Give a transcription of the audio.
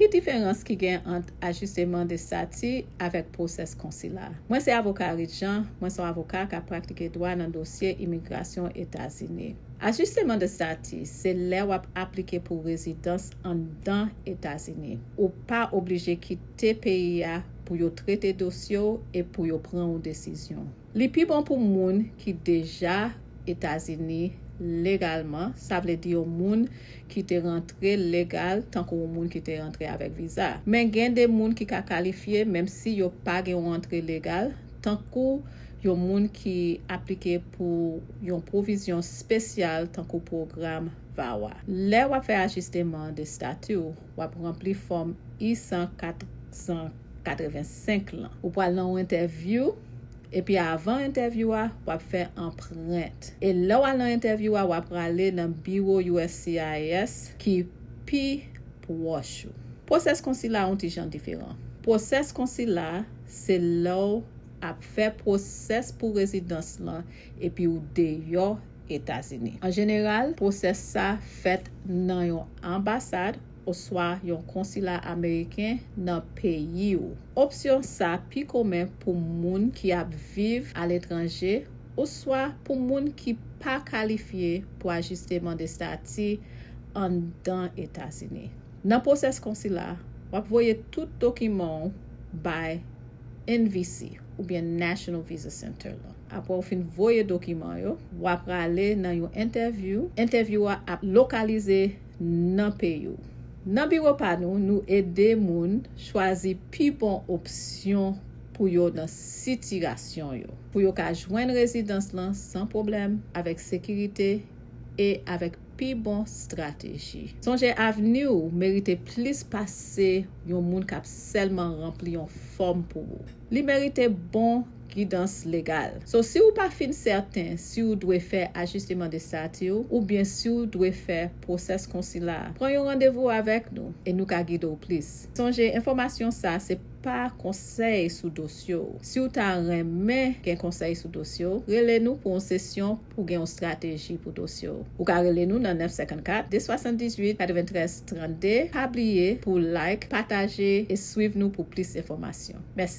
Ki diferans ki gen ant ajisteman de stati avèk pwosès konsila? Mwen se avoka Reed Jean, mwen son avoka kap praktike dwa nan dosye imigrasyon Etazini. Ajisteman de stati se lè wap aplike pou rezidans anndan Etazini. Ou pa oblije kite peyi a pou yo trete dosye w e pou yo pran yon desizyon. Li pi bon pou moun ki deja Etazini legalman, sa vle di yon moun ki te rantre legal tankou yon moun ki te rantre avèk viza. Men gen de moun ki ka kalifye menm si yo pa gen yon antre legal, tankou yon moun ki aplike pou yon pwovizyon spesyal tankou pwogram VAWA. Lè w ap fè ajisteman de stati w, w ap ranpli fòm I-185 lan. Ou pral nan yon entèvyou, epi avan entèvyou a, w ap fè anprent. E lè w al nan entèvyou a, w aprale nan biwo uscis ki pi pwòch ou. Pwosès konsila a yon ti jan diferan. Pwosès konsila a, se lè w ap fè pwosès pou rezidans lan epi ou deyò Etazini. An jeneral, pwosès sa fèt nan yon anbasad oswa yon konsila ameriken nan peyi ou. Opsyon sa pi komen pou moun ki ap viv aletranje oswa pou moun ki pa kalifye pou ajisteman de stati anndan Etazini. Nan pwosès konsila, w ap voye tout dokiman ou bay NVC oubyen National Visa Center lan. Apre ou fin voye dokiman yo, w a prale nan yon entèvyou. Entèvyou a ap lokalize nan peyi w. Nan biwo pa nou, nou ede moun chwazi pi bon opsyon pou yo nan sitirasyon yo, pou yo ka jwenn rezidans lan san pwoblèm, avèk sekirite e avèk pi bon strateji. Sonje avni w merite plis pase yon moun k ap sèlman ranpli yon fòm pou ou. Li merite bon gidans legal. So si ou pa fin sèten si ou dwe fè ajisteman de stati ou oubyen si ou dwe fè pwosès konsila, pran yon randevou avèk nou e nou ka gide w plis. Sonje enfòmasyon sa se pa konsèy sou dosye w. Si ou ta renmen gen konsèy sou dosye w, rele nou pou yon sesyon pou gen yon strateji pou dosye w. Ou ka rele nou nan 954 278 93 32. Pa bliye pou w like, pataje e swiv nou pou plis enfòmasyon. Mèsi.